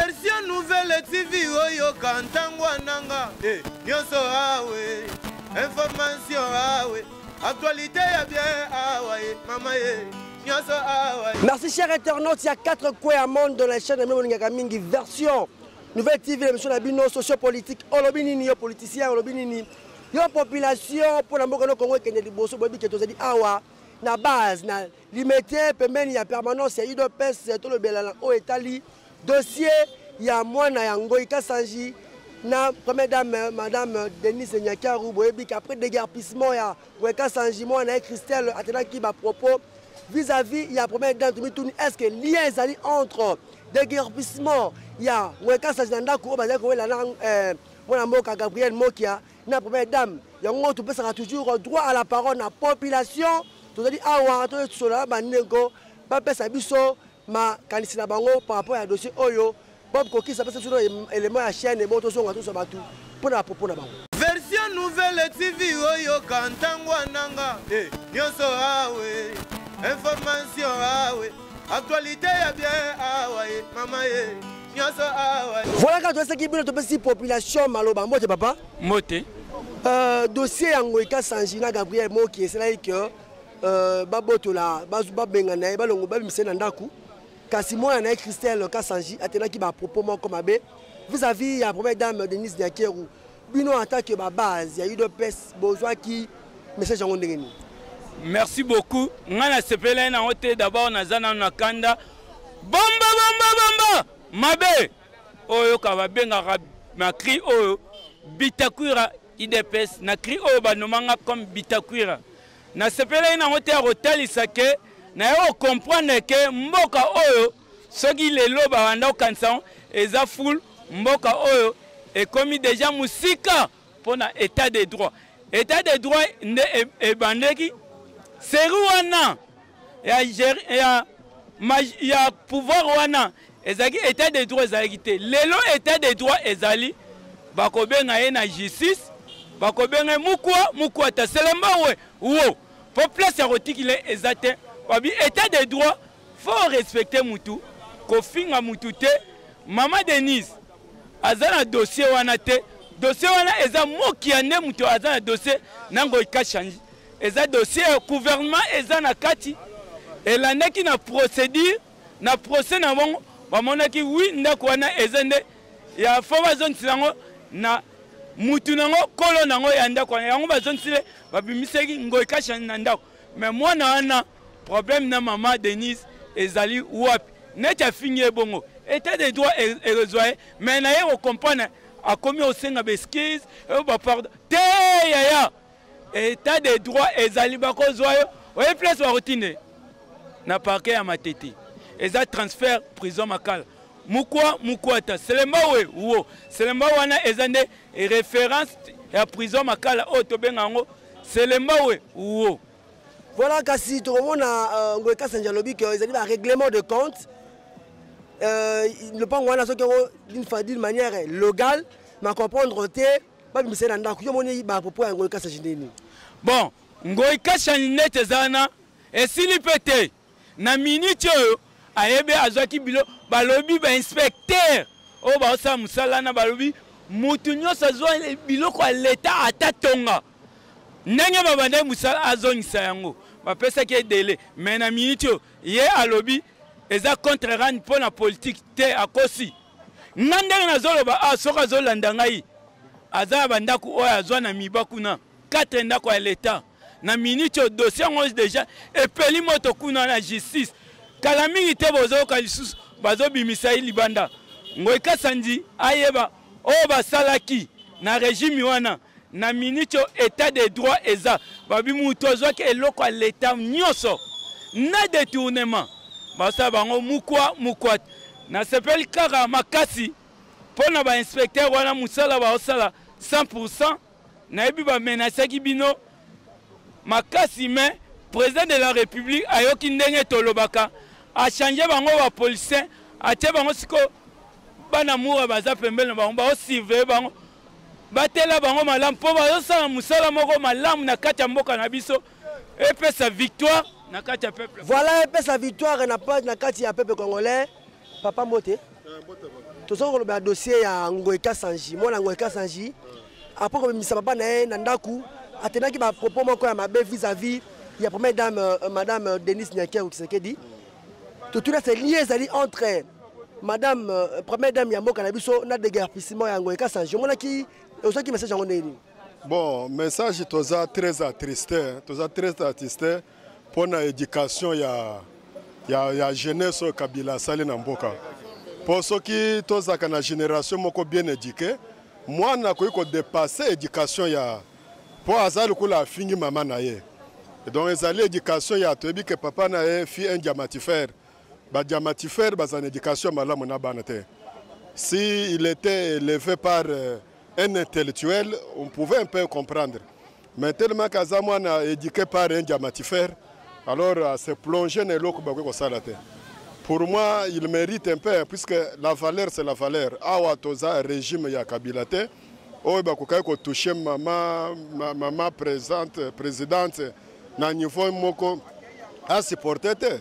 version nouvelle tv oyoka ntango ananga eh, nyonso awe information awe actualité ya bien awa ye mama ye nyonso awa merci cher internaute ya 4 coin ya monde de la chaîne amemolingaka mingi version nouvelle tv na émission na bino sociopolitique olobi nini yo politicien olobi nini yo population mpo na mboka no kongo ekende liboso boyebi ke tozali awa na base na Limete pembeni ya permanence ya udps tolobelana oyo etali dossier ya mwana ya ngoi kasanji na première dame madame denise nyakaru boyebi ke après déguerpissement ya ngoi kasanji mwana na ye christelle atenaki bapropos vis-à-vis ya première dame tomituni est ce que lien ezali entre déguerpissement ya ngoi kasanji na ndako oyo bazali kowela na eh, mwana mboka gabriel mokia na première dame yango topesaka toujours droit à la parole na population tozali awa tosola na bandeko bapesa biso makanisi na bango par rapport ya dossier oyo bob kokisa apesa biso élément ya chaîne ebongo tozonga tosa bato mpo na bapropo na bango version nouvelle tv oyoka ntango ananga eh, nyonso awe information awe actualité ya bien awa ye mama ye Voilà quand tu qui bino topesi population maloba mbote papa. Mbote. Euh, dossier yango eka sanjina Gabriel Moki esalaki que euh, babotola babengana ye balongo babimisa na ndako kasi mwana na ye christelle kasanji atendaki bapropos moko mabe vis-à-vis ya première dame denise diakeru bino en tant que ba base ya udps bozwaki message yango ndenge nini merci beaucoup ngai nasepelai nango te dabord naza nano na kanda bomba bomba bomba mabe oyo ka babengaka na cri oyo bitakwira idps na cri oyo banomanga comme bitakwira nasepelai nango te ya kotalisa ke naye okomprendre ke mboka oyo soki lelo babanda kokanisa yango eza ful mboka oyo ekomi deja mosika mpo na état de droit état de droit nde e, ebandeki seri wana ya, ya, ya pouvoir wana ezalaki état de droit ezalaki te lelo état de droit ezali bakobenga ye na justice bakobenga ye mukwa mukwa taselemba we wo mpo place ya kotikile eza te babi état de droit Faut respecter mutu, kofinga mutu te. Mama Denise aza na dossier wana te. Dossier wana eza moki ya nde mutu aza na dossier nango ikashangi. Eza dossier ya gouvernement eza na kati. Elandaki na procédure na procès na bango bamonaki wi ndako wana eza nde ya fo bazongisela yango na mutu nango kolo nango ya ndako wana yango bazongisile babimisaki ngoikasha na ndako Mais mwana wana problème na maman Denise ezali wapi? Neti afingi ye bongo. Etat de droit erezwa ye mais na ye ko comprendre akomi osenga ba excuse oyo ba pardon te yaya etat de droit ezali bakozwa yo oye place bakotinde na parquet ya matete eza transfert prison makala mukwa mukwata selemba we wo selemba wana eza nde référence ya prison makala oyo tobenga yango Selemba we uo. Voilà kasi tokomona euh, Ngoy Kasanja lobi que ezali ba règlement de compte euh, lopango wana soki yango d'une manière logale ma comprendre te babimisa ye na ndako yo omoni bapopo ya ngoi kasasi nini bon ngoi kasasi neti eza wana esili mpe te na minute oyo ayebi azwaki bilo balobi bainspecteur oyo baosala mosala na balobi motu nyonso azwa biloko ya leta ata tonga ndenge babandaki mosala azongisa yango bapesaki ye dele mai na minute oyo ye alobi eza contre rani mpo na politike te akosi nga ndenge nazoloba awa ah, soki azolanda ngai aza na bandako oyo azwa na miba kuna 4 ndako ya l'etat na minute oyo dossier yango deja epeli moto kuna na justice kala mingi te bozoyoka lisusu bazobimisa ye libanda ngoi kasandi ayeba oyo basalaki na regime wana na minute oyo etat de droit eza babi moto azwaki eloko ya leta nyonso na detournement basala bango mukwa mukwa nasepeli kaka makasi mpo na bainspecteur wana mosala baosala 100 nayebi ba menasaki bino makasi me president de la republique ayoki ndenge tolobaka achange bango bapoliticien atie bango sikoyo bana mura baza pembeni na bango baosurveye bango batela bango malamu mpo bazosala mosala moko malamu na kati ya mboka na biso epesa victoire na kati ya peuple voilà epesa victoire na, na kati ya peuple congolais papa mbote tozali kolobela dossier ya ngoy kasanji mwana ngoy kasanji apres kobimisa papa na ye na ndako atendaki bapropos moko ya mabe vis-à-vis ya première dame euh, madame euh, denise nyakeru kisekedi totuni ase lie ezali entre madame euh, première dame ya mboka na biso na deguerpissement ya ngoy kasanji omonaki ozwaki message yango ndenge nini bon message toza très attristé toza très attristé mpo na education ya, ya, ya jeunesse oyo kabila asali na mboka mpo soki tozalaka na generation moko bien eduqué mwana akoki kodepasse education ya mpo aza lokola afingi mama na ye donc ezali education ya toyebi ke papa na ye fi un diamatifere badiamatifere bazala na education ya malamu na bana te si il était élevé par euh, un intellectuel on pouvait un peu comprendre mais tellement que aza mwana éduqué par un diamatifère alors euh, se plonger na eloko bakoki kosala te pour moi il mérite un peu puisque la valeur c'est la valeur awa toza régime ya kabila te oyo bakokaki kotouche mama, mama présente, présidente na niveau moko asupporte te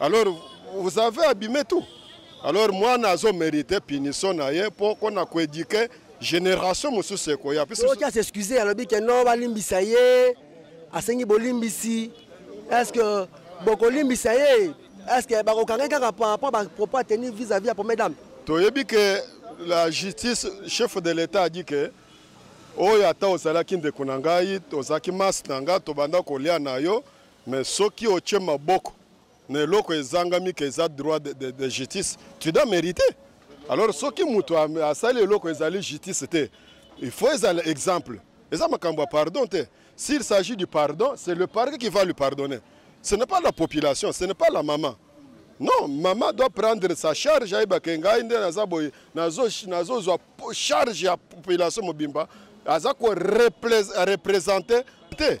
Alors vous avez abîmé tout. Alors mwana azo merite punition na ye po kona ko éduquer génération mosusu ekoya. Puis oki a s'excuser alobi que non balimbisa ye asengi bolimbisi. Est-ce que bokolimbisa ye? Est-ce que bakokanga kaka par rapport ba propos à tenir vis-à-vis ya première dame? Toyebi que la justice chef de l'État a dit que oyo ata ozalaki ndeko na ngai ozalaki masi na ngai tobanda kolia na yo Mais soki otie maboko na eloko ezangami ke eza droit de, de, de justice tu dois meriter alors soki moto asali eloko ezali justice te il faut ezala exemple eza makambo ya pardon te s'il s'agit du pardon c'est le parquet qui va lui pardonner ce n'est pas la population ce n'est pas la maman non maman doit prendre sa charge ayeba ke ngai nde naza boye nazozwa charge ya population mobimba aza ko représenter te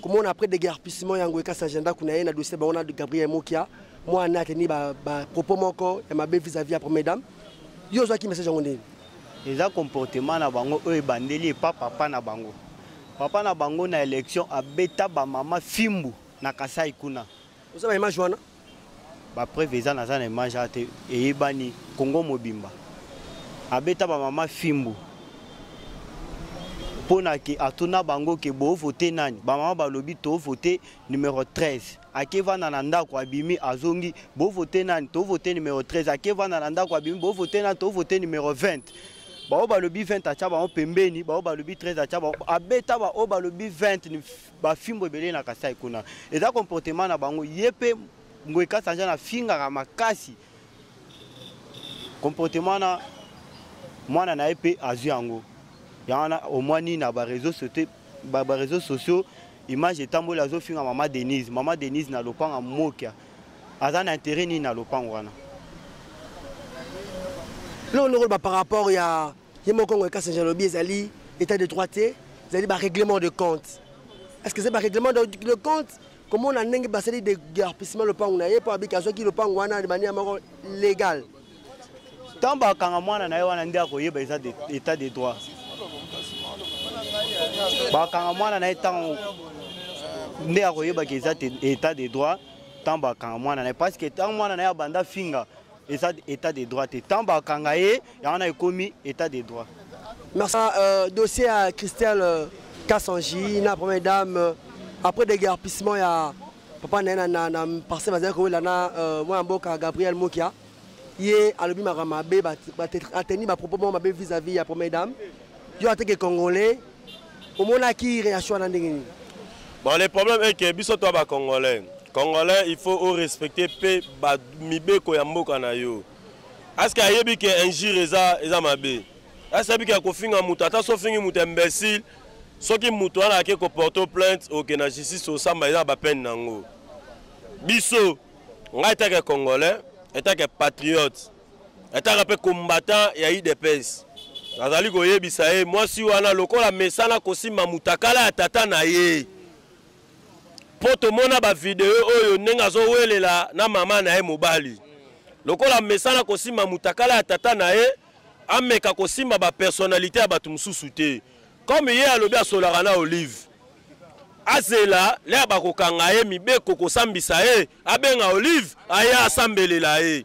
komona après deguerpissement ya ngoyi kasi agenda kuna ye na dossier bango na gabriel mokia mwana ateni bapropos moko ya mabe vis-à-vis ya première dame yo ozwaki message yango ndeni eza comportement na bango oyo ebandeli epa papa na bango papa na bango na élection abeta bamama fimbu na kasai kuna oza na image wana bapreuve eza naza na image wana te eyebani kongo mobimba abeta bamama fimbu mpo na ke atuna bango ke boovote nani bamama balobi toovote numero 13 akevanda na ndako abimi azongi boovote nani toovote numero 13 akevanda na ndako abimi boovote nani toovote numero 20 baoyo balobi 20 atya bango pembeni baoyo balobi 13 atya bango abeta baoyo balobi 20 ba fimbo ebele na kasai kuna eza comportement na bango ye mpe mboye kasanja na fingaka makasi comportement na mwana na ye mpe azwi yango yango wana omwani na bareseau sociaux ba, ba réseaux sociaux image etamboli azofinga mama denise mama denise na lopanga mokia aza na intérêt nini na lopango wana loloko par rapport ya ye moko Congo Kasanje alobi ezali état de droit te ezali barèglement de compte est ce que eza barèglement de compte komona ndenge basali degarpissement lopango na ye mpo abiki azwaki lopango wana de manière moko légale ntango bakanga mwana na ye wana nde akoyeba eza état de droit bakanga mwana na ye ntango nde akoyebaka eza état de droit ntango bakanga mwana na ye parce que ntango mwana na ye abanda finga eza état de droit te ntango bakanga ye yango wana ekomi état de droit merci euh, dossier ya christelle euh, kasangi na première dame euh, après déguerpissement ya papa na ye na, na parcelle bazali kowela na euh, mwana mboka gabriel mokia ye alobi makambo mabe ateni bapropos moko mabe vis-à-vis ya première dame Yo en tant que congolais, omonaki reaction wana ndenge nini? Bon, le problème est que biso toi ba congolais, congolais il faut au respecter pe ba mibeko ya mboka na yo. Est-ce que ayebi que injure eza eza mabe? Est-ce que ayebi que kofinga mutu ata so fingi mutu imbécile soki mutu wana ake ko porter plainte oke na justice osamba eza ba peine nango. Biso ngai etake congolais, etake patriote ataka mpe combattant ya udps nazali koyebisa ye mwasi wana lokola mesana kosimba mutakala ya tata na ye mpo tomona bavideo oyo ndenge azowelela na mama na ye mobali lokola mesana kosimba mutakala ya tata na ye ameka kosimba bapersonnalité ya bato mosusu te comme ye alobi asolaka na olive azela lea bakokanga ye mibeko kosambisa ye abenga olive aya asambelela ye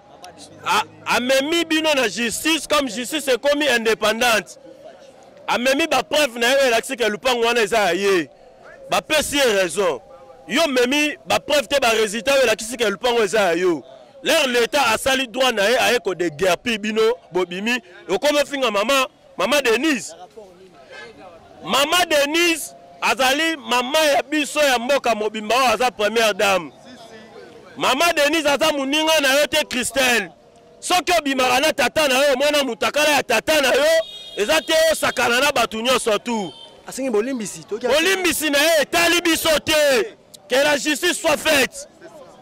amemi bino na justice comme justice ekomi indépendante amemi bapreuve na ye oyo elakisi ke lupango wana eza ya ye bapesi ye raison yo omemi bapreuve te baresultat oyo elakisi ke lupango eza ya yo lere leta asali droit na ye aye kodegerpi bino bobimi okomi ofinga mama Mama Denise, Mama Denise azali mama ya biso ya mboka mobimba oyo aza première dame. Mama Denise aza moninga na yo te Christelle. Soki obimaka na tata na yo omona mutakala ya tata na yo eza te osakana na bato nyonso tu. Asengi bolimbisi. Bolimbisi na ye etali biso te. Que la justice soit faite.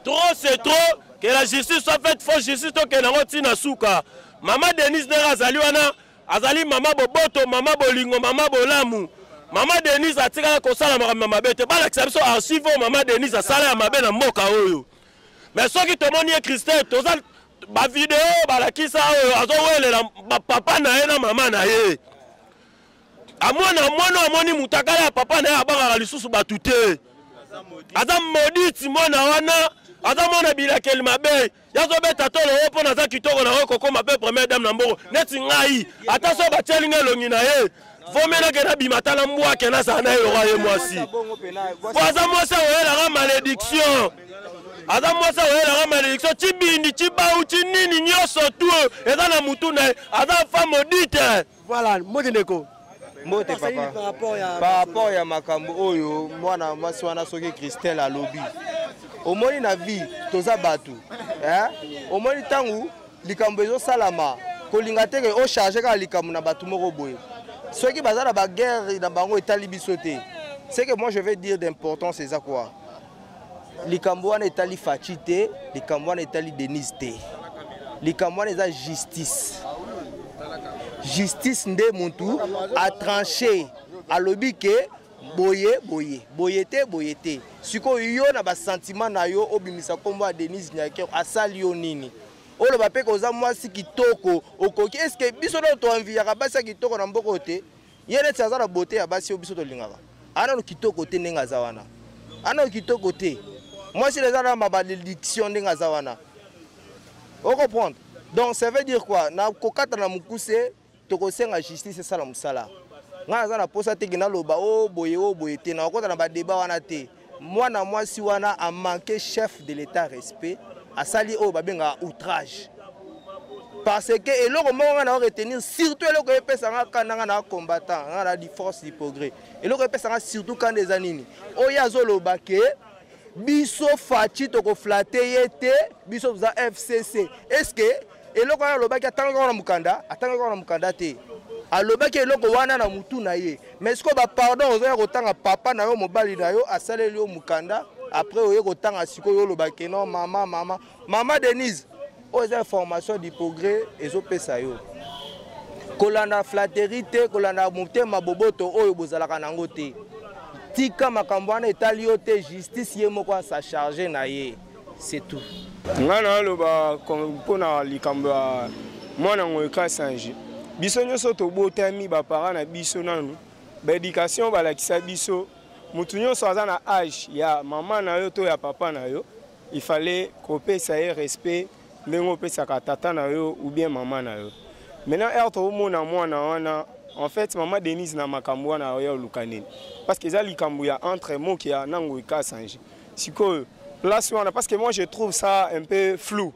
Trop c'est trop. Que la justice soit faite. Faut justice tokende yango ntina suka. Mama Denise ndenge azali wana azali mama boboto, mama bolingo, mama bolamu. Mama Denise atikala kosala makambo ya mabe te. Balakisa biso archive oyo mama Denise asala ya mabe na mboka oyo. Mais soki tomoni ye Christelle toza ba video balakisa oyo azowelela papa na ye na mama na ye. Amwana mwana amoni mutakala ya papa na ye abangaka lisusu bato te. Aza moditi mwana wana aza mwana bilakeli mabe. yazo beta tolo oyo mpo naza kitoko na oyo kokoma mpe première dame na mbongo neti ngai ata so batieli ngai elongi na ye vomelake nabima ata na mbwake nazala na ye lokola ye mwasi mpo aza mwasi akoyelaka malédiction aza mwasi akoyelaka malédiction cibindi cibau cinini nyonso tu eza na motu na ye aza femme odite Voilà, mbote ndeko. Mbote papa. Par rapport ya makambo oyo mwana mwasi wana soki Christelle alobi. Omoni na vie toza bato. Hein? Omoni tangu likambo ezosalama kolinga te ke o charge kaka likambo na bato moko boye. Soki baza na ba guerre na bango etali biso te. C'est que moi je vais dire d'importance eza quoi? likambo wana etali faci te likambo wana etali denise te likambo wana eza justice justice nde mutu atranche alobi ke boye boye boye te boye te sikoyo yo na basantima na yo obimisa nkombo ya denise nyaker asali yo nini oloba mpe koza mwasi kitoko okoki eske biso nao toanviyaka basi ya kitoko na mboko te Ye neti aza na beauté ya basi oyo biso tolingaka. Ana no kitoko te ndenge aza wana. Ana no kitoko te. Mwasi eza na ma malédiction ndenge aza wana. O comprendre? Donc ça veut dire quoi? Na kokata na mukuse tokosenga justice esala musala. Nga naza na posa te ke naloba o oh, boye o oh, boye te. Na kokota na ba débat wana te. mwana mwasi wana a manque chef de l'etat respect asali oyo babengaka outrage parce que eloko moko ngai nao retenir surtout eloko epesa ngai kanda ngai na combattant ngai na diforce dipogre eloko epesa ngai surtout kanda eza nini oyo azoloba ke biso faci tokoflate ye te biso toza fcc est ce que eloko wana alobaki atangaki kaka na mokanda atangaki kaka na mokanda te alobaki eloko wana na mutu na ye mais sikoyo bapardon ozoya kotanga papa na yo mobali na yo asaleli yo mokanda après oye kotanga sikoyo olobaki no mama mama mama denise oyo eza information du progrès ezopesa yo kolanda flatterie te kolanda motema boboto oyo bozalaka na yango te tika makambo wana etali yo te justice ye moko asacharge na ye c'est tout ngai naloba mpo na likambo ya mwana ngoyo kasange biso nyonso tobotami bapara na biso nanu baéducation balakisa biso motu nyonso aza na age ya mama na yo to ya papa na yo il fallait kopesa ye respect ndenge opesaka tata na yo ou bien mama na yo maintenant heure tokomona mwana wana en fait mama denise na makambo wana oya oluka nini parce que eza likambo ya entre mokia na ngoi kasange sikoyo place wana parce que moi je trouve ça un peu flou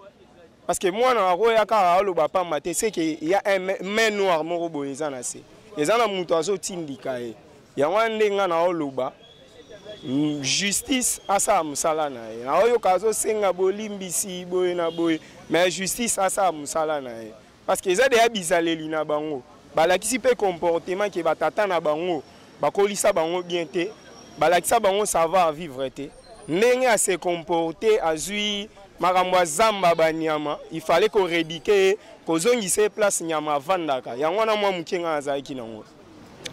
parce que mwana akoya kaka aloba pamba te ce que ya main noire moko boye eza na se eza na moto azotindika ye yango wana nde ngai naoloba mm, justice asala mosala na ye naoyoka azosenga bolimbisi boye na boye mais justice asala mosala na ye Parce que eza deya bizaleli na bango. Balakisi pe comportement ke ba tata na bango bakolisa bango bien te. Balakisa bango savoir vivre te. Ndenge a se comporter azui makambo ya zamba ba nyama, il fallait ko reduquer ye, kozongisa ye place nyama avandaka. Yango wana mwa muke nga nazalaki na ngo.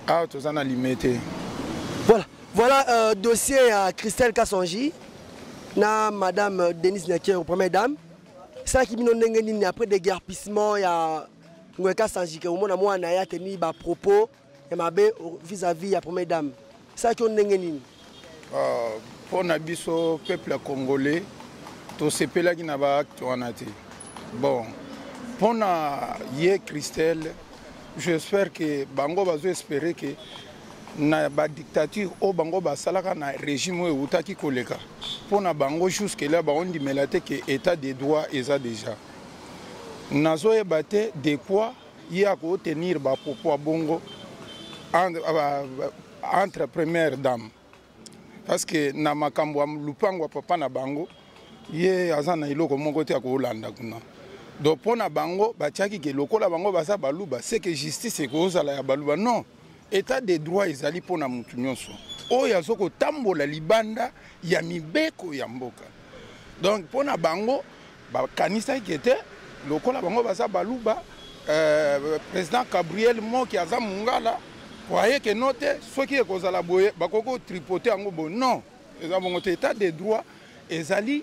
Awa toza na lime te. Voilà, voilà euh, dossier ya Christelle Kasonji na madame Denise Nyakero, première dame. esalaki bino ndenge nini après déguerpissement ya ngoyeka sanjike omona mwana na ye ateni bapropos ya mabe vis-à-vis ya première dame esalaki yo ndenge nini ah, mpo na biso peuple ya congolais tosepelaki na baacte wana te bon mpo na ye christelle j'espère ke bango bazo espere ke na ba dictature oyo bango basalaka na régime oyo ewutaki koleka mpo na bango jusque là baondimela te ke état de droit eza déjà nazoyeba te de quoi ye akootenir bapropos ya bongo entre première dame parce que na makambo ya lupango ya papa na bango ye aza na eloko moko te akoolanda kuna donc mpo na bango batiaki ke lokola bango baza baluba seke justice ekozala ya baluba non Etat de droit ezali mpo na moto nyonso oyo azo kotambola libanda ya mibeko ya mboka. Donc mpo na bango bakanisaki ete lokola bango baza baluba euh, président Gabriel Moki aza mungala croyez que non te soki ekozala boye bakoki kotripote yango boye non eza bongo te état de droit ezali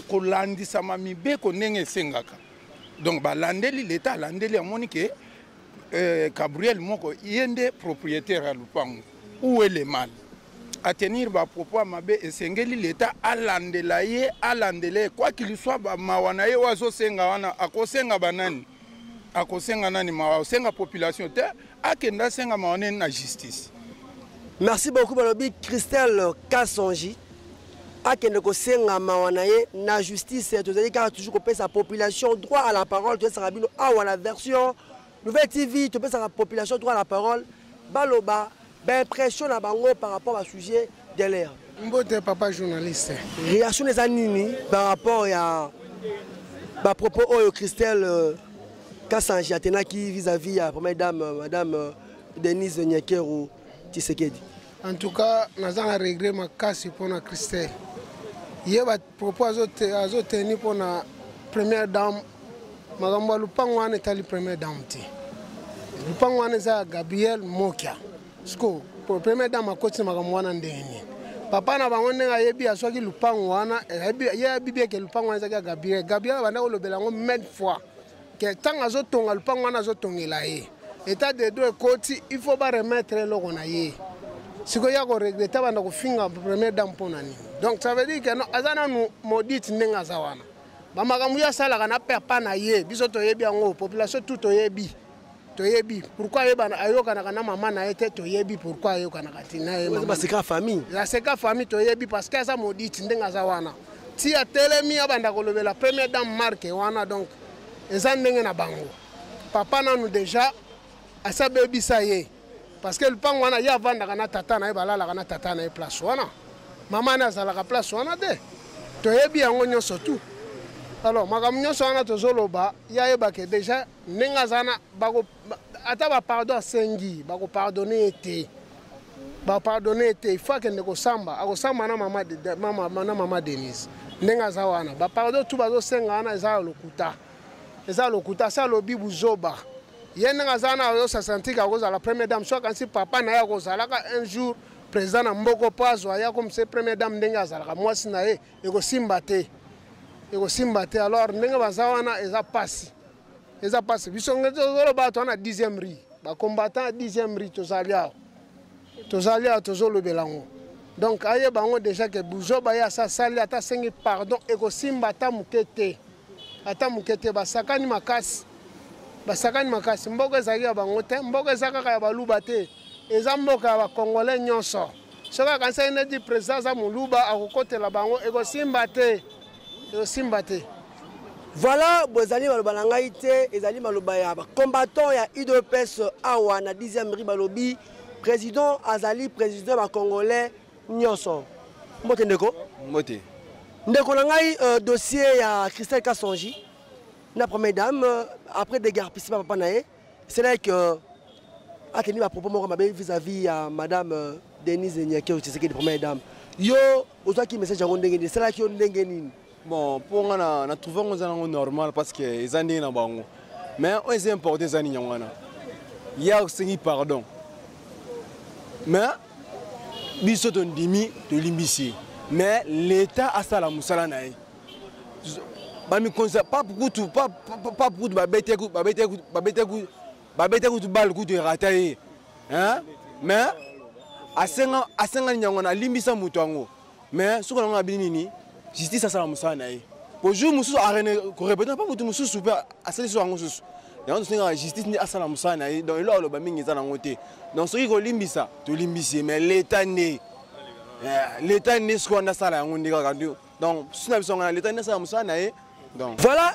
kolandisama mibeko ndenge esengaka donc balandeli leta alandeli amoni ke euh, Gabriel moko ye nde propriétaire ya lupango où est le mal atenir bapropos ya mabe esengeli leta alandela ye alandela ye kwa kiliswa bamawa na ye oyo azosenga wana akosenga banani akosenga nani mawa osenga population te akenda asenga mawa neni na justice merci beaucoup balobi christelle kasongi akende kosenga mawa na ye na justice tozali kaka toujours kopesa population droit à la parole topesaka bino awa na version nouvelle tv topesaka population droit à la parole baloba baimpression na bango par rapport basujet de l'air mbote papa journaliste réaction eza nini par rapport ya bapropos oyo christelle euh, kasanji atenaki vis-à-vis ya première dame euh, madame euh, denise nyekeru tisekedi En tout cas, naza na regret makasi mpo na Christelle. Ye ba propos azo tenir mpo na première dame makambo ya lupango wana etali première dame te. Lupango wana eza ya Gabriel Mokia. Siko première dame akoti na makambo wana ndenge nini? papa na bango ndenge ayebi azwaki lupango wana ye ayebi eke lupango wana ezaki ya gabriel gabriel abanda kolobela yango mille fois ke ntango azotonga lupango wana azotongela ye etat de do ekoti il faut baremettre eloko na ye sikoyo ya koregrete abanda kofinga première dame mpo na nini donc ça veut dire que aza nanu maudite ndenge aza wana bamakambo yo asalaka na papa na ye biso toyebi yango population tout toyebi toyebi pourquoi ayebana ayokanaka na mama na ye te toyebi pourquoi ayokanaka ti na ye baseka famille aseka famille toyebi parce que aza moditi ndenge aza wana ti atelemi abanda kolobela première dame marke wana donc eza ndenge na bango papa nanu deja asi abebisa ye parce que lupango wana ye avandaka na tata na ye balalaka na tata na ye place wana mama ne azalaka place wana te toyebi yango nyonso tout alors makambo nyonso wana tozoloba ye ayebake deja ndenge aza na bako ata bapardon asengi bakopardone ye te bapardone ye te ifo akende kosamba akosamba na mama denise ndenge aza wana bapardon tu bazosenga wana eza ya lokuta eza ya lokuta asi alobi buzoba ye ndenge aza wana azosasantika akozala première dame so akanisi papa na ye akozalaka un jour président na mboko mpo azwa ye akomisa ye première dame ndenge azalaka mwasi na ye ekosimba te ekosimba te alors ndenge baza wana eza mpasi eza pasi biso nge tozoloba to na 10e ri bacombattant ya 10e ri tozali awa tozali awa tozolobela yango donc ayeba yango déjà ke buzoba ye asasali ata asengi pardon ekosimba ata moke te ata moke te basakani makasi basakani makasi mboka ezalaki ya bango te mboka eza kaka ya baluba te eza mboka ya bacongolais nyonso soki akanisaki neti président aza moluba akokotela bango ekosimba te ezosimba te voilà bozali maloba na ngai te ezali maloba ya bacombattant ya udps awa na 10e ri balobi président azali président ya bacongolais nyonso mbote ndeko mbote ndeko na ngai euh, dossier ya christelle kasongi na première dame euh, après degarpisi bapapa na ye C'est là que euh, a tenu ma propos moko mabe vis-à-vis ya madame euh, Denise Nyakero Tshisekedi première dame. Yo ozwaki message yango ndenge nini? Esalaki yo ndenge nini? Bon, mpo nga na, na trouve yango eza nango normal parce que eza ndenge na bango. Mais oyo eza important eza nini yango wana? Ya osengi pardon. Mais biso tondimi tolimbisi. Mais l'État asala mosala na ye. bamikonzi ya pape kutu pape kutu babetaki kutu bale kutu erata ye mais asenga asenga nyango na alimbisa moto yango mais soki nango abini nini justice asala mosala na ye po jour mosusu korepete mpe moto mosusu mpe asalisi yango mosusu yango tosengaka justice nde asala mosala na ye donc eloko aloba mingi eza nango te donc soki kolimbisa tolimbisi ye mais leta nde eh, leta nde soki wana asala yango nde kaka donc susi na biso nga na leta nde asala mosala na ye Donc. Voilà,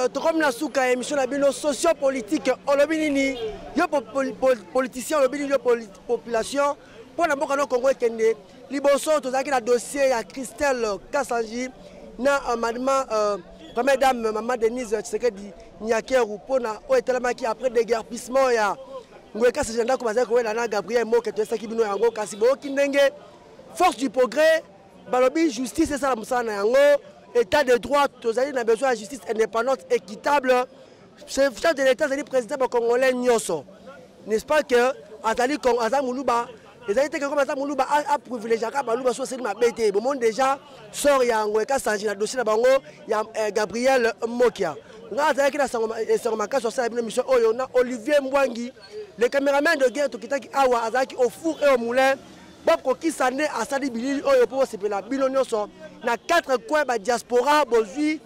euh, tokomi na suka ya émission na bino socio-politique olobi nini yo po, po, po, politicien olobi nini yo population mpo na mboka no Congo ekende liboso tozalaki na dossier ya Christelle Kasanji na euh, madma euh, première dame euh, maman Denise Tshisekedi Nyakeru mpo na oyo etelamaki après déguerpissement ya ngoye kasi ndako bazali kowela na Gabriel Moke toyesaki bino yango kasi boyoki ndenge force du progrès balobi justice esala mosala na yango état de droit tozali na besoin ya justice indépendante équitable chef de l'état azali président bacongolais nyonso n'est ce pas que azali aza moluba ezali te kekoma aza moluba aprivilegiaka baluba so aseli mabe te bomoni déjà sor yango ekasange na dossier na bango ya eh, gabriel mokia ngai azalaki na esango makasi asala bino mission oyo na olivier mbwangi le cameraman de guerre tokitaki awa azalaki au four et au moulin bokokisa nde asali bilili oyo mpo bosepela bino nyonso na 4 coin badiaspora bozwi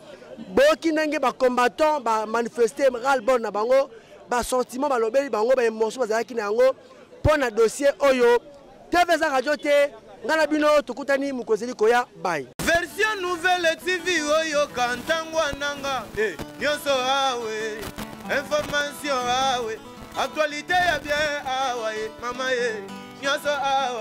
boyoki ndenge bacombattant bamanifeste ralbon na bango basentiment balobeli bango baemotion bazalaki na yango mpo na dossier oyo tv eza radio te ngai na bino tokutani mokozeli koya bai version nouvelle tv oyoka ntango ananga eh, nyonso awe information awe actualité ya bien awa ye eh, mama ye eh, nyonso awa